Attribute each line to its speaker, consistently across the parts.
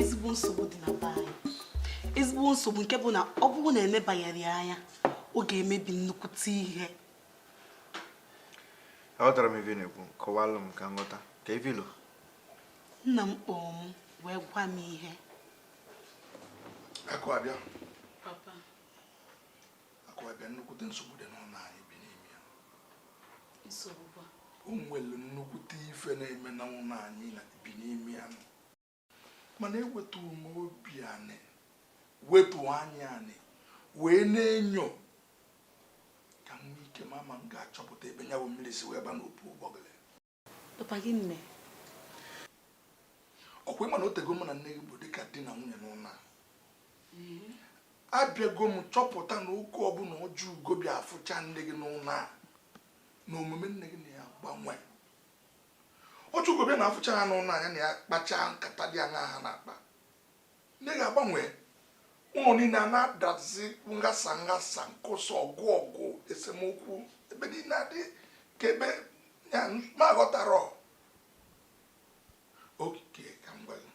Speaker 1: ezigbo nsogbu dị na be anyị ezigbo nsogbu nke bụ na ọ bụrụ na emebaghịrị ya anya ọ ga-emebi nnukwute ihe
Speaker 2: aghọtarọ m ife ị na-ekwu kọwalụ m ka m ghọta ka ife ilo
Speaker 1: nna m kpọọ m wee gwa m ihe
Speaker 3: Akụabịa papa Akụabịa nnukwute nsogbu dị n'ụnọ anyị bi n'ime
Speaker 1: ya o
Speaker 3: nwere nnukwute ife na-eme na ụnọ anyị bi n'ime ya mana ewetu m obi anị wetu anya anị wee na-enyo ka m nwee ike ma ma m ga-achọpụta ebe ya bụ mmiri si wee ba n'opu ụgbọgụrụ Papa
Speaker 1: gịnị
Speaker 3: mee? Ọkwa ịma na o tego mụ na nne gị bụ dịka di na nwunye n'ụnọ a. Mm-hmm. Abịago m chọpụta na oge ọbụla Ojiugo bịa afụcha nne gị n'ụnọ a na omume nne gị na ya-agbanwe. Ojiugo bịa na afụcha ha n'ụnọ a ya na ya kpachaa nkata dị aṅaa ha na-akpa. nne gị agbanwe ụnọ niine a na-adazi nghasa nghasa nkụsa ọgụ ọgụ esemokwu ebe niile adị ka ebe ya m aghọtarọ oke ka m gwa gị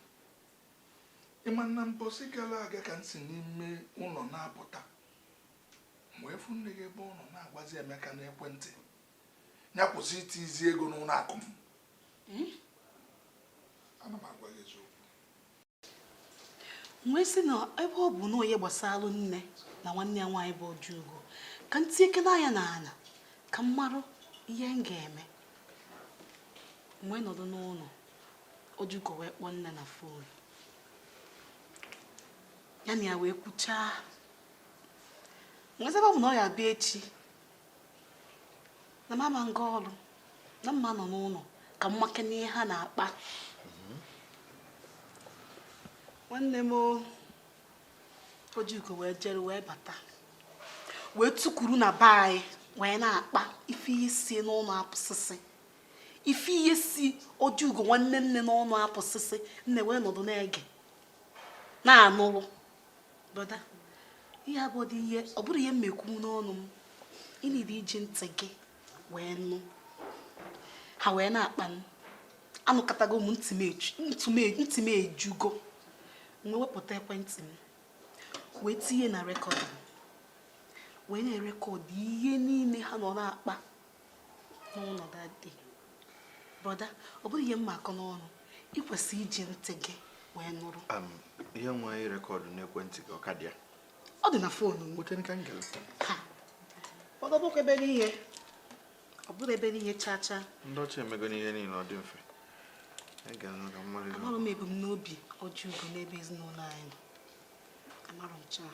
Speaker 3: ịma na mbọsị gala aga ka m si n'ime ụnọ na-apụta m wee fụ nne gị ebe ọ nọ na-agwazi Emeka n'ekwentị ya kwụsị iti izi ego n'ụnọ akụ m hmm? ana m agwa gị eziokwu
Speaker 1: wee sị na ebe ọ bụ na ihe gbasalụ nne na nwanne ya nwaanyị bụ Ojiugo ka m tinyekene anya na ana ka m marụ ihe m ga-eme wee nọdụ n'ụnọ Ojiugo wee kpọọ nne na fon ya na ya wee kwuchaa m wee sị ebe ọ bụ na ọ ya-abịa echi na m ama m ga ọlụ na m ma-anọ n'ụnọ ka m makene ihe ha na-akpa nwanne m ojiugo wee jere wee bata wee tukuru na be anyị wee na-akpa ife ihe si n'ọnụ apụsịsị ife ihe si ojiugo nwanne nne n'ọnụ apụsịsị nne wee nọdụ na-ege na-anụrụ brother ihe a bụdụ ihe ọ bụrọ ihe m ma-ekwu n'ọnụ m ị need iji ntị gị wee nụ ha wee na-akpa m anụkatago m ntị m ejugo m wee wepụta ekwentị m wee tinye na record wee na-erecord ihe niine ha nọ na-akpa n'ụlọ dadi brọda ọ bụghị ihe m ma-akọ n'ọnụ ị kwesịrị iji ntị gị wee nụrụ ihe nwa
Speaker 2: ị rekọdụ n'ekwentị gị ọ ka dị ya ọ dị na foonu
Speaker 1: m nweta ka m gelụ brọda bụkwa ebe n'ihe ọ bụrụ ebe n'ihe chaa chaa ndị ọcha emego
Speaker 2: n'ihe niile ọ dị mfe amarụ
Speaker 1: m ebumnobi Ojiugo n'ebe ezinụlọ anyị nọ amarụ m chaa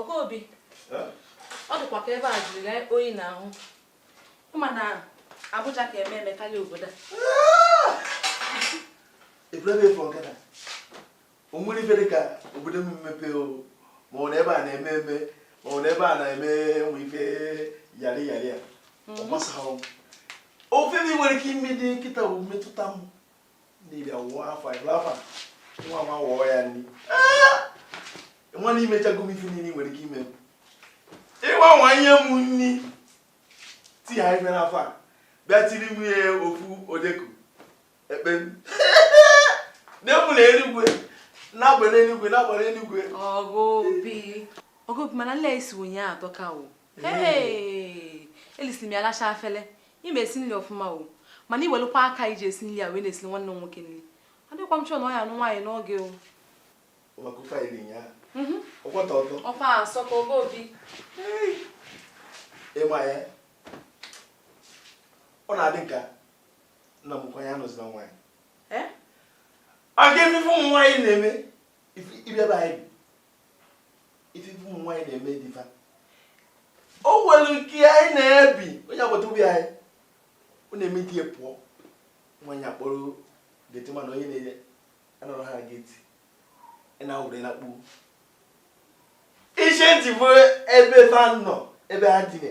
Speaker 4: Ogobi ọ dịkwa ka ebe a jiri oyi n'ahụ mana Abuja ka
Speaker 5: eme eme karịa obodo a o nwere ife dị ka obodo m mmepe ma ọ na ebe a na-eme eme ma ọ na ebe a na-eme nwe ife yari yari a ọ mhm. gbasaghị ife m nwere ike ime kịta bụ mmetụta m niile wụọ afọ ịbụla afọ nwa nwa wụọ ya nri nwa na emechago m ife niile nwere ike ime ịgwa nwa nye m nri ti ha ife n'afọ a bịa tiri m ihe ofu odeku ekpe m na-ekwu na eluigwe na-agbara eluigwe na-agbara eluigwe Ogobi
Speaker 4: Ogobi mana nli i si ụnyaahụ atọka o elisili m ya lacha afele ị ma esi nri ọfụma o mana i welụkwa aka i ji esi nri a wee na-esi nwanne m nwoke nri adịkwa m sure na ọ ya anụ nwaanyị n'oge o
Speaker 5: ọkwa asọ ka Ogobi ị ma ya ọ na-adị m ka nna m kwanye anụzila nwaanyị maka ife ụmụ nwaanyị na-eme ibe ebe anyị ife ife ụmụ nwaanyị na-eme di fa o nwere nke anyị na-ebi onye agbata obi anyị ọ na-eme di ya pụọ nwaanyị akpọrọ gateman ha onye na-enye anọrọ ha geti ị na-awụrela kpuo iche ntị bụ ebe fa nọ ebe ha dine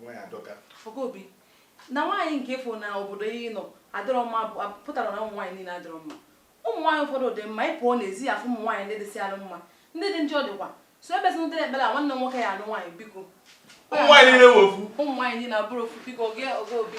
Speaker 5: nwaanyị ajọka
Speaker 4: Ogobi na nwaanyị nke ị fụ na obodo ị nọ adịrọ mma pụtara na ụmụ nwaanyị niile adịrọ mma ụmụ nwaanyị ụfọdụ dị mma ị pụọ n'ezi ị ya-afụ ụmụ nwaanyị ndị dịsị alụ mma ndị dị njọ dịkwa so ebe sị dịrị ekpere a nwanne nwoke ya alụ nwaanyị biko ụmụ nwaanyị niile
Speaker 5: wụ ofu ụmụ nwaanyị niile abụrụ
Speaker 4: ofu biko Ogobi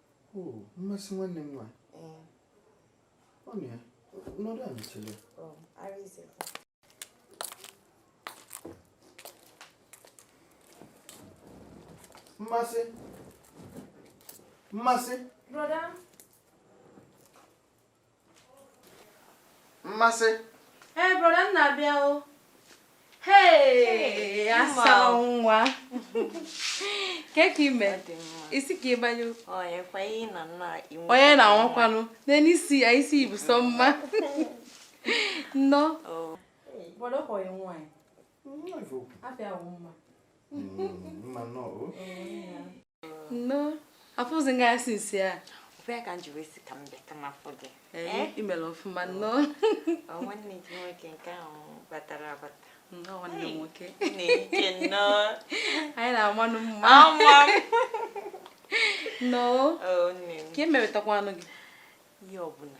Speaker 2: mmasị nwanne m nwaanyị ọ nọ ya nọdụ anị chere mmasị mmasị mmasị ee brọda
Speaker 4: nna bịa o hee asa nwa kee ka ime isi ka ịbanye onye na-anwakwanụ nene isi ya isi ibu sọ mma
Speaker 2: nnọọ mma
Speaker 4: nnọọ afụzi m gị anya sinsi a ọ bụ ya ka m ji
Speaker 6: wee si ka m bịa ka m afụ gị imere ọfụma
Speaker 4: nnọọ nwanne
Speaker 6: gị nwoke nke ahụ batara abata nwanne m
Speaker 4: nwoke na-ike
Speaker 6: nnọọ
Speaker 4: anyị na-amanụ
Speaker 6: mma
Speaker 4: nnọọ ka e
Speaker 6: mewetakwanụ gị
Speaker 4: ihe ọbụla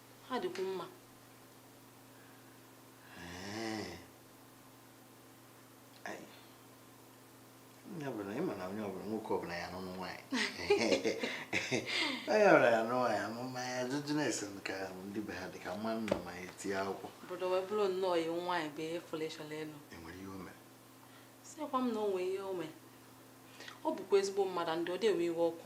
Speaker 4: ha dịkwu
Speaker 2: mma onye ọbụla ị ma na onye ọbụla nwoke ọbụla ya n'ụmụ nwaanyị onye ọbụla ya n'ụmụ nwaanyị anụ mmanya ajụjụ na ese ka ndị be ha dị ka mma nna ma ya tinye akwụkwọ obodo wee bụrụ
Speaker 4: nnọọ iwu nwaanyị bụ ihe fọleshọn elu enwere ihe o mere
Speaker 2: sịkwa
Speaker 4: m na o nwee ihe o mere ọ bụkwa ezigbo mmadụ ndị ọ dị ewe iwe ọkụ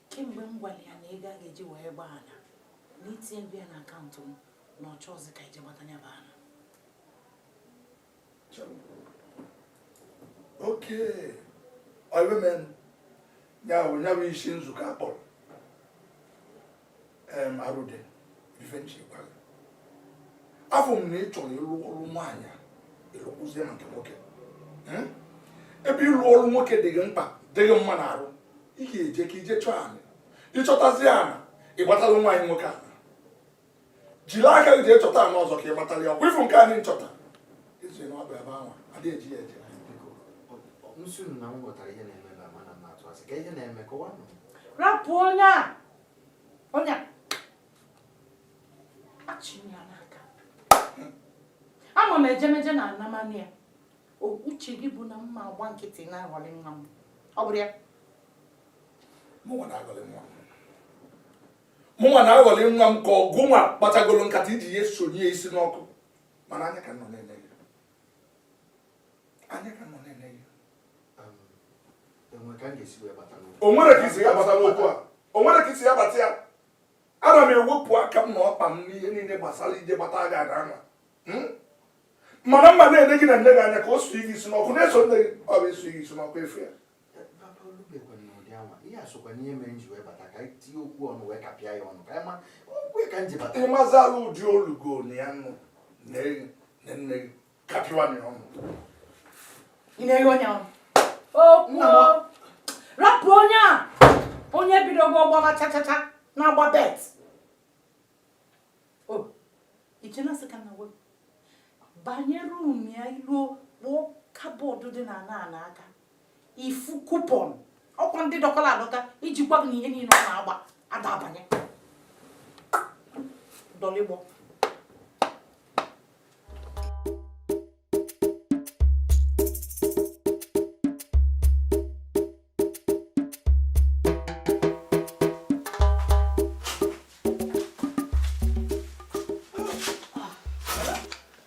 Speaker 7: kemgbe m gwara ya na ego a ga-eji wee gbaa ana na itinyego ya na akaụntụ m na ọ chọọzi ka ije gbata ya bụ ana
Speaker 3: okay ọ ya bụ main ya bụ ya bụ isi nzukọ akpọrọ arụde ife nchekwara afụ m na ị chọrọ ịlụ ọlụ nwaanyị ịlụkwụzie maka nwoke hmm? ebe ịlụ ọlụ nwoke dị gị mkpa dị gị mma n'arụ ị ga-eje ka ije chọọ ana ịchọtazi ana ịgbatalụ nwaanyị nwoke ana jiri aka gị jee chọta ana ọzọ ka ị gbatalụ ya ọkwa ịfụ nke anyị nchọta ezi na ọ bụ ebe ahụ adịghị
Speaker 2: eji ya eje rapụ onye
Speaker 7: a Onye achịrị ya n'aka. Ama m ejemeje na anamani ya. Uche gị bụ na m ma-agba nkịtị na-aghọlị nwa m. Ọ bụrọ
Speaker 3: ya. Mụnwa na-aghọlị nwa m. Mụnwa na-aghọlị nwa m ka ọ gịnwa kpachagolo nkata iji ya sunye isi n'ọkụ. Mana anya ka nọ na-ene o nwere ka isi ya bata n'okwu a o nwere ka isi ya bata ya ana m ewepụ aka m na ọkpa m n'ihe niile gbasara ije gbata gị ana anwa hmm? mana m ma na-ene gị na nne gị anya ka o su gị isi n'ọkụ na-eso nne gị ọ bụ isu gị isi n'ọkụ efu ya ịmazi ala ụdị olugo na ya nọ na nne gị
Speaker 7: rapụ onye a onye bidogo ọ gbaba chachacha na-agba bet i che na asị ka m na-ekwu banye rum ya i luo kpụọ kabọọdụ dị na ana ana aka ị fụ kupọn ọkwa ndị dọkala adọka iji gwa gị na ihe niile ọ na-agba ada abanye dọlịgbọ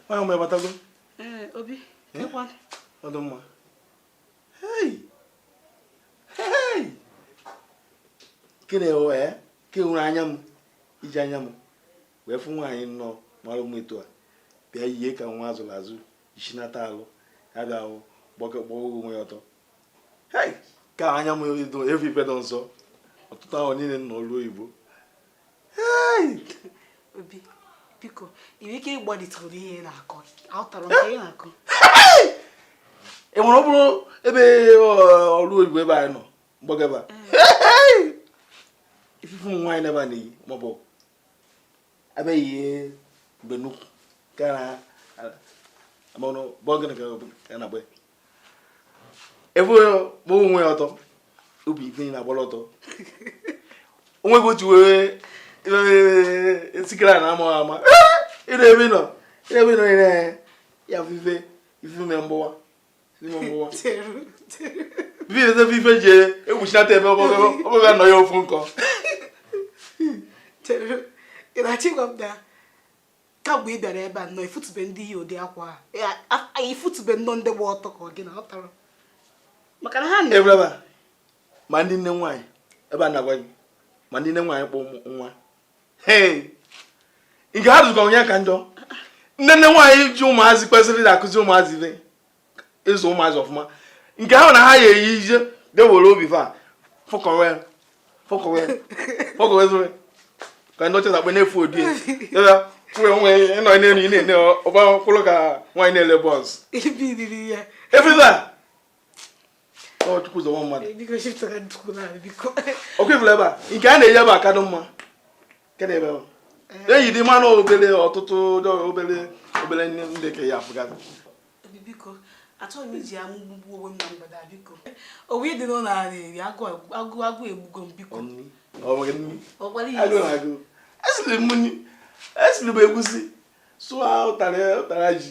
Speaker 5: onye ọma ị batago obi ọ dụ mma kene wee ke m were anya m iji anya m wee fụ nwaanyị nnọọ mara mma etu a bịa yie ka nwa a zụrụ azụ isi nata alụ ya bịa gba ọ gba onwe ya ọtọ hei ka anya m afụ ife dụ nsọ ụtụtụ a n'ime ụnọ ọlụ oyibo hei
Speaker 1: obi biko ị nwere ike ịgbalịtụrụ ihe ị na-akọ aghọtarọ m ihe ị
Speaker 5: na-akọ e nwere ọ bụrọ ebe ọrụ oyibo ebe anyị nọ mgbagaba ị fụ ife ụmụ nwaanyị n'ebe a na-eyi maọbụ abe ye benu kana amono ọ bụ gịnị kana bwe ebo onwe ọtọ obi ife na-agbarọ ọtọ onwe bụ otu wee sikere na ama ama ịna ebe nọ ịna ebe nọ ịna ya ife ife mere mgbọwa ebe ife ji egwuchinata ebe ọ bụghị anọ ya ofu
Speaker 1: nkọ ị na-achọ ịgwa m na kamgbe ị bịara ebe a na ị fụtụbe ndị yi ụdị akwa a ị fụtụbe nnọọ ndị gba ọtọ ka ọ gị na ọ tara maka na ha na ebe
Speaker 5: ma ndị nne nwaanyị ebe a na-agwa gị ma ndị nne nwaanyị kpọ nwa nke ha dụkọ onye ka njọ nne nne nwaanyị ji ụmụazị kwesịrị na-akụzi ụmụazị ibe ịzụ ụmụazị ọfụma nke ahụ na ha ya eyi ife dewere obi fa fọkọwe fọkọwe fọkọwe zụrụ ka ndị ọcha na-akpọ na-efu odi ya tụrụ onwe ịnọ n'elu ị na-ene ọba kwụrụ ka nwaanyị na-ele bọọsụ efe ọkwa ị fụrụ ebe a nke a na-eyi ebe a ka dị mma eyi dị mmanụ obere ọtụtụ obere obere ndị ka ya afụgasị
Speaker 1: achọghị m iji amụ gbugbuo onwe m na mgbede a biko o nwe ife dị n'ụlọ a na-eri agụụ egbugo m
Speaker 5: biko esiri m egusi sụọ ụtara ji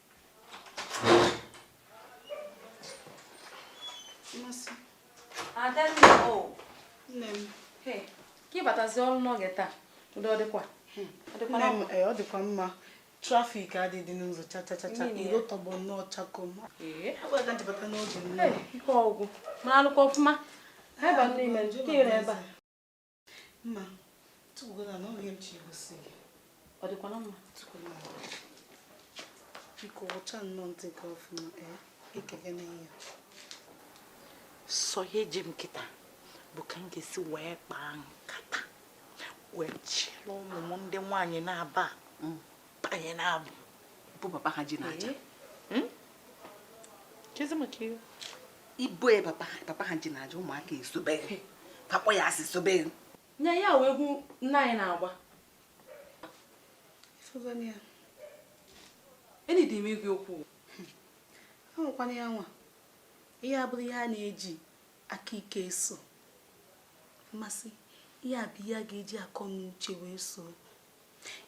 Speaker 4: ịbatazi
Speaker 1: ọrụ n'oge
Speaker 4: taa udo ọ dịkwa hmm. eh, ọ
Speaker 1: dịkwa
Speaker 4: mma
Speaker 1: traffic adịghị n'ụzọ chachachacha iro tọgbọ nnọọ chakoo eh? ji bata n'oge ike ọgwụ
Speaker 4: ma alụkwa ọfụma ebe a
Speaker 1: mma tụgbugola na ọrụ ihe m chọ igosi gị ọ dịkwa na
Speaker 4: mma tụkwala m
Speaker 1: biko wụcha nnọọ ntị gị ọfụma ee ikeke na ihe
Speaker 6: sọ ihe ji m kịta bụ ka m ga-esi wee kpaa nkata wee chịrị ụmụ m ndị nwaanyị na-aba mm. banye n'abụ bụ papa ha ji na-aja hmm? ibu e papa ha ji na-aja ụmụaka esobeghị fa kpọ ya asị sobeghị nye ya wee
Speaker 4: egwu nna anyị na-agba enyi dị m igwe
Speaker 1: okwu ahụkwana ya nwa ihe a abụrọ ihe a na-eji aka ike eso ma sị ihe a bụ ihe a ga-eji akọ na uche wee so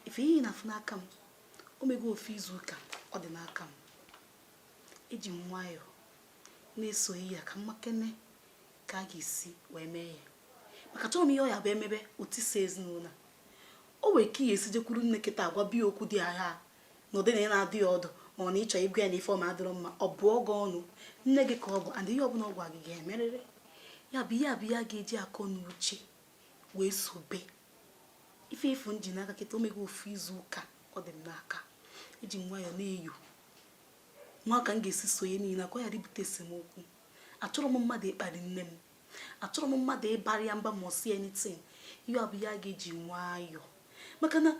Speaker 1: ife ị na-afụ n'aka m o mego ofu izu ụka ọ dị n'aka m eji m nwayọọ na-eso ya ka m makene ka a ga-esi wee mee ya maka achọrọ m ihe ọ ya-abụ e mebe o tisa ezinụlọ o nwere ka ị ya-esi jekwuru nne kịta agwaba ya okwu dị agha na ụdị na ị na-adụ ya ọdụ ma ọ na ị chọ ịgwa ya na ife o me adịrọ mma ọ bụọ gị ọnụ nne gị ka ọ bụ and ihe ọbụla ọ gwa gị ị ga-emerịrị ya bụ ihe a bụ ihe a ga-eji akọ na uche wee sobe ife ị fụ m ji n'aka kịta o mego ofu izu ụka ọ dị m n'aka eji m nwayọọ na-eyo nwa ka m ga-esi so ihe niile ka ọ ghara ibute esemokwu achọrọ m mmadụ ịkparị nne m achọrọ m mmadụ ịbara ya mba ma ọ sị anything ihe ọ bụ ihe a ga-eji nwayọọ maka na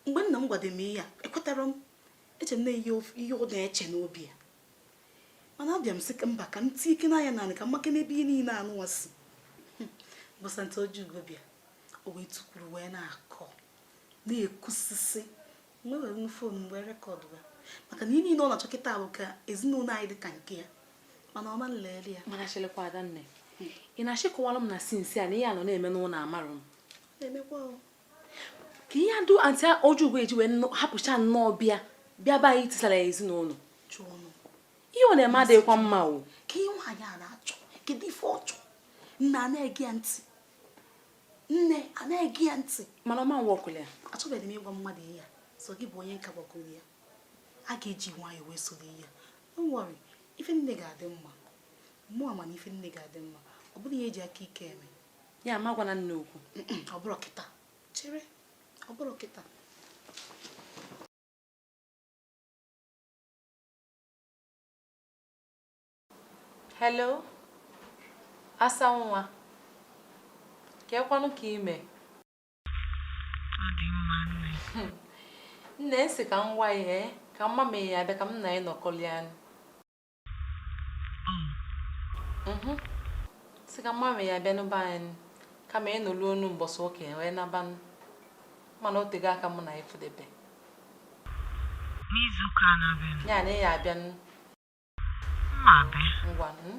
Speaker 1: mgbe nna m gwado m ihe a ekwetarọ m eche m na ihe ọ na-eche n'obi ya mana abịa m sị ka mba ka m tinyekene anya na ya ka m makene ebe ihe niile a nụwa si ụbọsị aunty Ojiugo bịa o wee tukwuru wee na-akọ na-ekwusisi m wee were nụ phone m wee record ya maka na ihe niile ọ na-achọ kịta bụ ka ezinụlọ anyị dị ka nke ya mana ọ ma nlele ya mana chelukwa adanne
Speaker 4: ị na-achọ ịkọwalụ m na since a na ihe a nọ na-eme n'ụlọ amarọ m na-emekwa kee ihe dụ aunty Ojiugo ji wee hapụcha nnọọ be ya bịa be anyị tisara ya
Speaker 1: ezinụlọ ihe ọ na-eme
Speaker 4: adịghịkwa mma o kee ihe nwaanyị a
Speaker 1: na-achọ kedu ife ọ chọ nne ana-ege ya ntị nne ana-ege ya ntị mana ọ ma nworkụlụ
Speaker 4: ya achọbeghị m ịgwa
Speaker 1: mmadụ ihe a sọ gị bụ onye m ka gbakwuru ihe a ga-eji nwayọọ wee soro ya don't worry ife niine ga-adị mma mụ ma na ife niine ga-adị mma ọ bụrọ ihe e ji aka ike eme ya amagwana
Speaker 4: nne okwu ọ bụrụ
Speaker 1: kịta chere ọ bụrụ
Speaker 4: kịta hello asa nwa kekwanụ ka i me nne m sị ka m gwa yị eh? ka m ma ma ị ya-abịa ka m na yị nọkọlịanụ Mhm. sị ka m ma ma ị ya-abịanụ be anyị ka m na ị nọlụ ọnụ mbọsị ụka ya wee nabanụ mana o tego aka mụ na ị
Speaker 8: fụdebe n'izuụka na-abịanụ ya na ị ya-abịanụ m ma-abịa ngwa mm,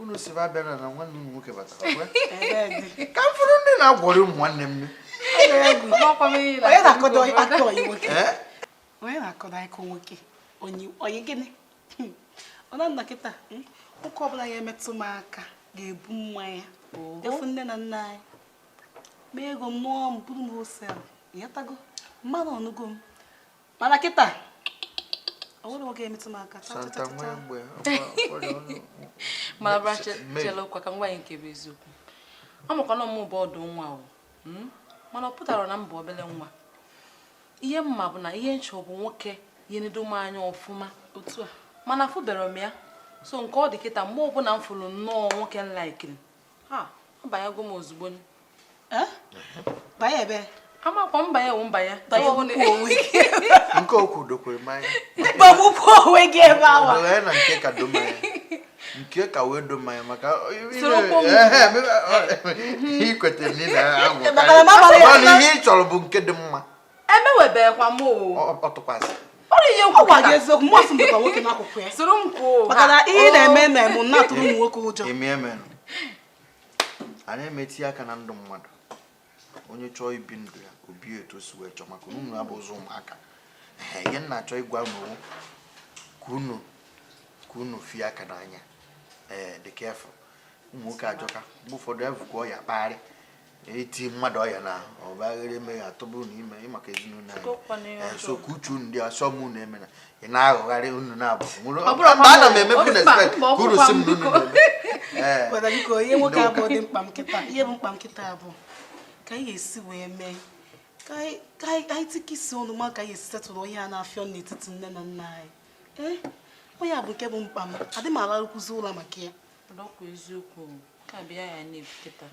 Speaker 2: unu si ba bịara na nwanne ụmụ nwoke batara ka m fụrụ ndị na-aghọrị ụmụ nwanne m onye
Speaker 1: na-akọdo aka ọyị nwoke onye na-akọdo aka nwoke ọyị gịnị ọ na nna kịta nwoke ọbụla ya-emetụ m aka ga-ebu mmanya je fụ nne na nna anyị mee ego m nụọ m buru m wholesale ị ghọtago mmadụ ọ nụgo m mana kịta o nwerọ nwoke emetụ m aka santa
Speaker 4: nwe mgbe ma bịa chelukwa ka m gwa yị nke bụ eziokwu amakwa na m bụ ọdụ nwa o hmm? mana ọ pụtarọ na m bụ obere nwa ihe m ma bụ na ihe m chọ bụ nwoke ya-enedo m anya ọfụma otu a mana afụberọ m ya so nke ọ dị kịta mgbe ọbụla m fụrụ nnọọ nwoke m laikiri banyego m
Speaker 1: ozugbo
Speaker 4: banye ebe amakwa mbanye wụ mbanye
Speaker 2: nke okwu dokwe m anya gbagbukwuo onwe
Speaker 1: gị ebe awa na nke ka
Speaker 2: do m anya nke ka wee do m anya maka ikweta na ị na-agwọ ihe ị chọrọ bụ nke dị mma enwebeghịkwa
Speaker 4: m ntụkwasị
Speaker 2: obi
Speaker 4: gwa gị eziokwu
Speaker 1: mụ ọsị mbụkwa
Speaker 4: nwoke
Speaker 1: n'akwụkwọ ya soro m kwuo maka na
Speaker 2: ihe ị na-eme na-eme m na-atụrụ ụmụ nwoke ụjọ anyị ama etinye aka na ndụ mmadụ onye chọọ ibi ndụ ya o bie etu o si wee chọọ maka unu abụzị ụmụaka ihe m na-achọ ịgwa unu ka unu ka unu fie aka n'anya ee dị careful ụmụ nwoke ajọka mgbe ụfọdụ evukwa ọya kpagharị eti mmadụ ọya na ọbaghere eme ya atụbụ na ime ịmaka ezinụlọ anyị so ka uche unu dị asọ m unu emena ị na-aghọgharị unu na-abụ mgbe ana m emebu na-expect ka unu sị m na unu na-eme
Speaker 1: ihe nwoke abụdị mkpa m kịta ihe bụ mkpa m kịta a bụ ka anyị ga-esi wee mee ka anyị tikọ isi ọnụ ma ka anyị esi settle ihe a na-afịọ n'etiti nne na nna anyị ee ọ ya bụ nke bụ mkpa m adị m alarukwuzi ụlọ maka ya eziokwu
Speaker 4: ka bịa ya na-ebute taa